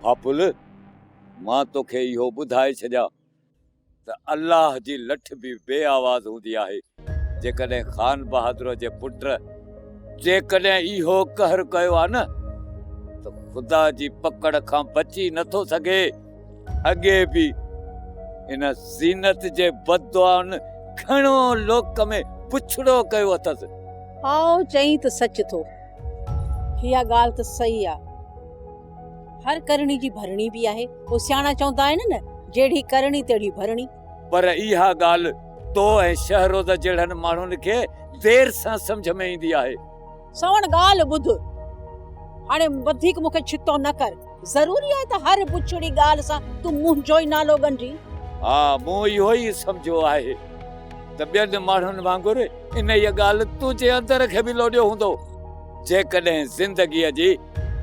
ڀاپل! مان توکي اهو ٻڌائي ڇڏيان ته الله جي لٺ به بي آواز هوندي آهي، جيڪڏهن خان بهادر جي پٽ جيڪڏهن اهو قهر ڪيو آهي نه ته خدا جي پڪڙ کان بچي نه ٿو سگهي، اڳي به ان زينت جي بددعائن گهڻو لوڪ ۾ بڇڙو ڪيو اٿس. آء چئين ته سچ ٿو. اها ڳالهه ته صحيح آهي. هر ڪرڻي جي ڀرڻي به آهي. پوء سياڻا چوندا آهن نه، جهڙي ڪرڻي تهڙي ڀرڻي. پر اها ڳالهه تو ۽ شهروز جهڙن ماڻهن کي دير سان سمجهه ۾ ايندي آهي. سوڻ ڳالهه ٻڌ. هاڻي وڌيڪ مون کي ڇتو نه ڪر. ضروري آهي ته هر بڇڙي ڳالهه سان تون منهنجو ئي نالو ڳنڍين؟ ها، مون اهو ئي سمجهيو آهي ته ٻين ماڻهن وانگر انهيء ڳالهه تنهنجي اندر کي به لوڏيو هوندو. جيڪڏهن زندگيء جي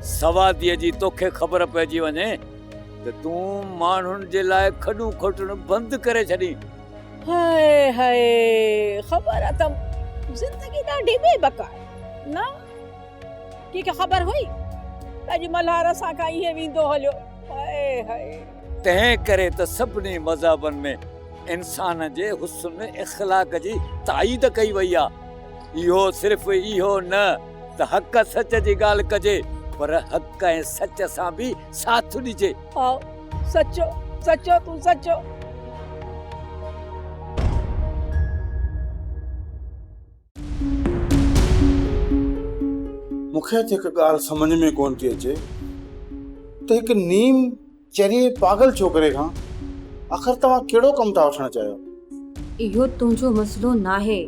سواديء جي توکي خبر پئجي وڃي ته تون ماڻهن جي لاء کڏون کوٽڻ بند ڪري ڇڏين. هاء هاء خبر اٿم زندگي ڏاڍي بي بڪ آهي نه ڪنهنکي خبر هئي ته اڄ ملهار اسان کان ائين ويندو هليو هاء هاء. تنهن ڪري ته سڀني مذهبن ۾ انسان جي حسن اخلاق جي تائيد ڪئي وئي آهي اهو صرف اهو نه. ته حق سچ جي ڳالهه ڪجي پر حق ۽ سچ سان به ساٿ ڏجي. آء سچو سچو تون سچو. مونکي اڄ هڪ ڳالهه سمجهه ۾ ڪونه ٿي اچي ته هڪ نيم چريي پاڳل ڇوڪري کان آخر توهان ڪهڙو ڪم ٿا وٺڻ چاهيو؟ اهو تنهنجو مسئلو ناهي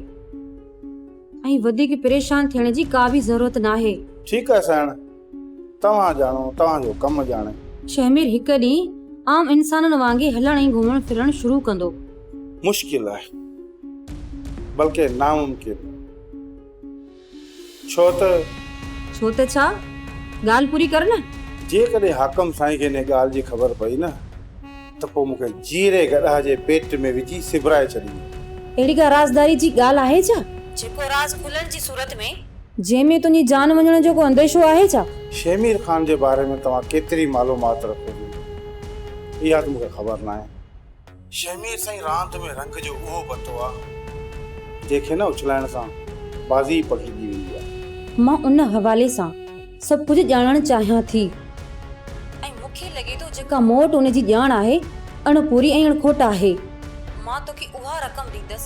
۽ وڌيڪ پريشان ٿيڻ جي ڪا به ضرورت ناهي. ٺيڪ آهي سائڻ، توهان ڄاڻو، توهان جو ڪم ڄاڻي. شهمير هڪ ڏينهن عام انسانن وانگي هلڻ ۽ گهمڻ ڦرڻ شروع ڪندو. مشڪل آهي، بلڪه ناممڪن. ڇو ته. ڇو ته ڇا؟ ڳالهه پوري ڪر نه. جيڪڏهن حاڪم سائين کي انهيء ڳالهه جي خبر پئي نه ته پوء مون کي جيئري گڏهه جي پيٽ ۾ وجهي سبرائي ڇڏيندو. اهڙي ڪا رازداريء جي ڳالهه آهي ڇا؟ جيڪو راز کلڻ جي صورت ۾. جنهن ۾ تنهنجي جان وڃڻ جو ڪو انديشو آهي ڇا؟ شيمير خان جي باري ۾ توهان ڪيتري معلومات رکو ٿيون، اها ته مون کي خبر ناهي. شهمير سائين راند ۾ رنگ جو اهو بتو آ. جنهن کي نه اڇلائڻ سان بازي ئي پکڙجي ويندي آ. مان ان حوالي سان سڀ ڪجهه ڄاڻڻ چاهيان ٿي ۽ مون کي لڳي ٿو جيڪا مون وٽ ان جي ڄاڻ آهي اڻ پوري ۽ اڻ کوٽ آهي. مان توکي اها رقم ڏيندس.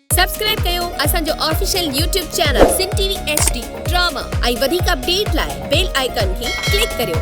سبسڪرائب ڪيو اسان جو official YouTube channel Sindh T V H D drama ۽ وڌيڪ اپڊيٽ لاء بيل آئيڪان کي ڪلڪ ڪريو.